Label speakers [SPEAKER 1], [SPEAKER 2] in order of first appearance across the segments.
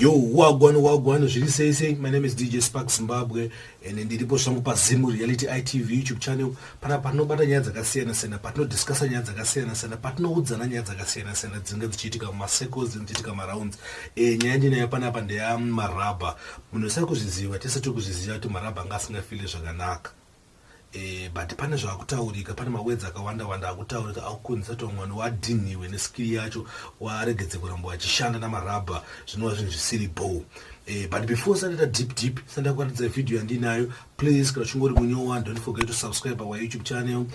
[SPEAKER 1] Yo, wagwan wagwan zviri sei sei. My name is DJ Spark Zimbabwe and ndiripo zvangu paZim Reality ITV YouTube channel pana patinobata nyaya dzakasiyana siyana, patinodiscussa nyaya dzakasiyana siyana, patinoudzana nyaya dzakasiyana siyana dzinenge dzichiitika mumasecos dzinenge dzichiitika marounds. E, nyaya ndinayo panapa ndeyamarabha. Munhu usari kuzviziva, tese tiri kuzviziva kuti marabha anga asingafile zvakanaka. Eh, but pane zvakutaurika pane mawords akawanda wanda akutaurika akukonzesa kuti mwana wadhinhiwe neskill yacho waregedze kuramba wachishanda namarabha zvinova zvinhu zvisiri bho eh, but before sandaita deep deep sanda kuratidza video yandinayo please kana chingori munyowa don't forget to subscribe our youtube channel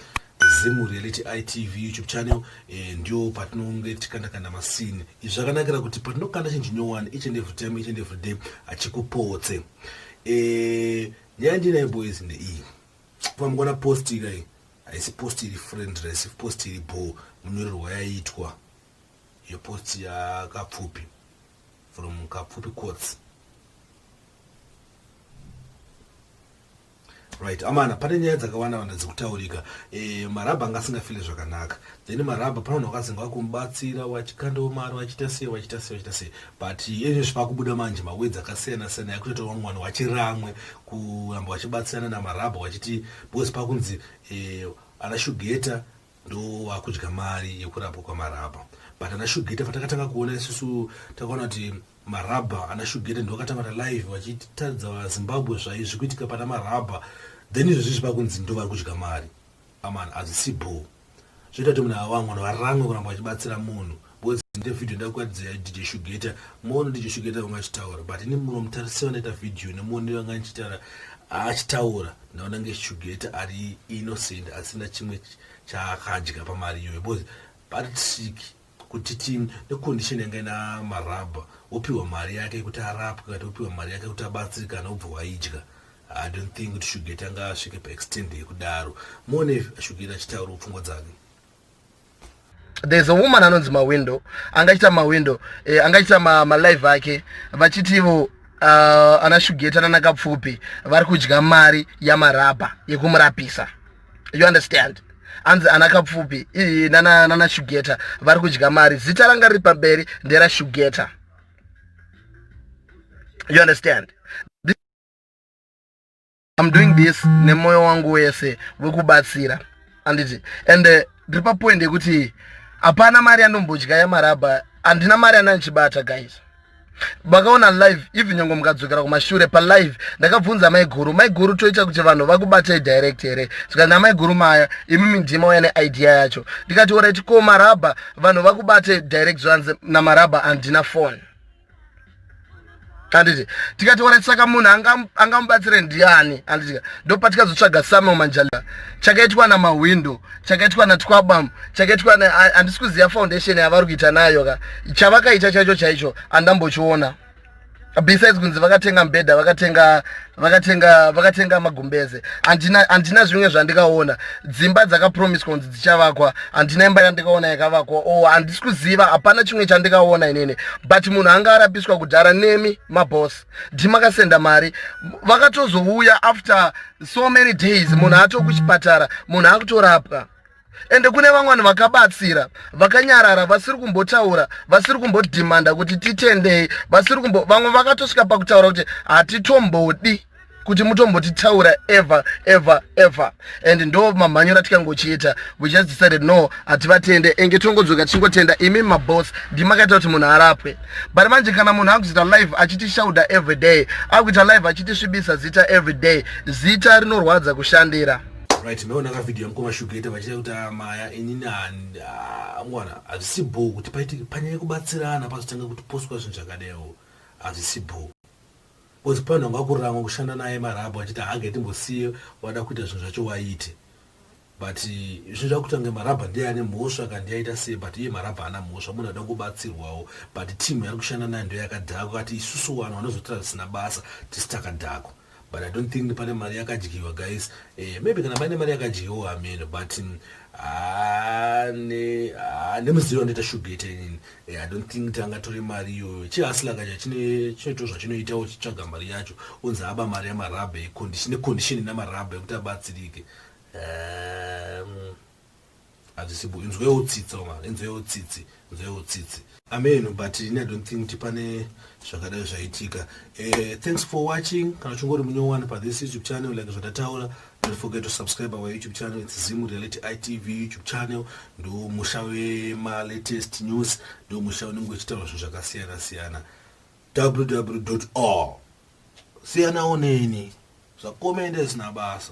[SPEAKER 1] zim reality itv youtube channel eh, ndio patinonge tikandakanda masini izvi zvakanakira kuti patinokanda chinhu chinyowani each and every time each and every day achikupotse eh, Yandina iboys ndeiyi. Pamukona post ikai. Haisi post iri friendless, post iri bho munyorerwa yaitwa. Yo post yakapfupi from kapfupi quotes. right amana pane nyaya dzakawanda wanda dzikutaurika e, eh, marabha anga asingafile zvakanaka then marabha pano wakazenge wakumubatsira wachikandawo mari wachita sei wachita sei wachita sei but ezvo zvipakubuda manje mawedzi akasiyana siyana yakutoita wamwe vanhu wachiramwe kuramba wachibatsirana namarabha wachiti because pakunzi eh, ana shugeta ndo wakudya mari yekurapwa kwamarabha but ana shugeta patakatanga kuona isusu takaona kuti marabha ana shugeta ndo wakatanga ta live vachitaridza vazimbabwe zvaizvi kuitika pana marabha then izvozvi zvipakunzi ndo vari kudya mari Aman azisi bho. Zvita kuti muna wangu no varamwe kuramba vachibatsira munhu. Because ndite video ndakwadzira DJ Shugeta. Mono DJ Shugeta wanga chitaura but ni muno mutarisira ndaita video ne mono wanga chitara achitaura ndaona nge Shugeta ari innocent asina chimwe chakadya pamari yoyo. Because Patrick kuti ti necondition yanga ina marabha wopiwa mari yake yekuti arapwe kati wopiwa mari yake yekuti abatsirikana wobva waidya i don't think kuti shugeti anga asvike paextend yekudaro muone shugeti achitaura pfungwa dzake
[SPEAKER 2] there's a woman anonzi mawindow anga achita mawindow eh, anga achita malive ma ake vachiti ivo uh, ana shugeti ananakapfupi vari kudya mari yamarabha yekumurapisa you understand anzi ana kapfupi ii nana, nana shugeta vari kudya mari zita ranga riri pamberi ndera shugeta you understand I'm doing this nemoyo wangu wese wekubatsira anditi and uh, ndiri papoint yekuti hapana mari yanombodya yamarabha handina mari yananichibata guys vakaona live even nyangwe mukadzokera kumashure palive ndakabvunza maiguru maiguru toita kuti vanhu vakubatai direct here zvikanzi amaiguru maya imi mindima uya neidea yacho ndikati orit ko marabha vanhu vakubate direct zvanzi namarabha handina fone handiti tikati ora saka munhu angamubatsire ndiani handiti ndopatikazotsvaga samuel manjaliva chakaitwa namahwindo chakaitwa natwabam chakaitwa handisi kuziva foundation yavari kuita nayo ka chavakaita chaicho chaicho andambochiona besides kunzi vakatenga mbedha vakatenga vakatenga vakatenga magumbeze andina andina zvimwe zvandikaona dzimba dzakapromiswa kunzi dzichavakwa andina imba yandikaona yakavakwa o oh, handisi kuziva hapana chimwe chandikaona inini but munhu anga arapiswa kudhara nemi mabos ndimakasenda mari vakatozouya after so many days munhu atokuchipatara munhu akutorapwa ende kune vamwe vanhu vakabatsira vakanyarara vasiri kumbotaura vasiri kumbodhimanda kuti titendei vasiri kumbo vamwe vakatosvika pakutaura kuti hatitombodi kuti mutombotitaura ever ever ever and ndo mamhanyoro atikangochiita we just decided no hativatende enge tongodzoka tichingotenda imi maboss ndimakaita kuti munhu arapwe but manje kana munhu akuzoita live achitishaudha every day akuita live achitisvibisa zita every day zita rinorwadza kushandira right maiona ka
[SPEAKER 1] video yamukoma shugeta vachita kuti ah, maya inini angwana ah, hazvisi bho kuti paitike panyaya kubatsirana pazotanga kuti poswa zvinhu zvakadewo hazvisi bho bcause panhu anga kuramwa kushanda naye marabho achiti haange timbosiye wada kuita zvinhu zvacho waite but zvinhu zvakuita kunge marabha ndiye ane mhosva kandiyaita sei but iye marabha ana mhosva munhu ada kubatsirwawo but team yari kushanda nayo ndoyakadhakwa kati isusu vanhu vanozotira zvisina basa tisi takadhakwa but i don't think pane mari yakadyiwa guys eh, maybe kana paine mari yakadyiwa hameno but mm, ah, ah, nemuzivi wanoita shugete inini eh, i don't think tanga tore mari iyoyo chihasilakacha chinoitwa zvachinoita uchitsvaga mari yacho unzi aba mari yamarabha necondition namarabha yekuti abatsirike um, Hazvisipo inzwewo tsitsi vamwari inzwewo tsitsi inzwewo tsitsi. Amen but ini I don't think kuti pane zvakadai zvaitika. Eh, thanks for watching. Kana uchingori munyowani pa this YouTube channel like zvandataura don't forget to subscribe our YouTube channel it's Zim Reality ITV YouTube channel ndo musha wema latest news ndo musha unenge uchitaura zvinhu zvakasiyana siyana www.all siyana oneni zvakomende zvisina basa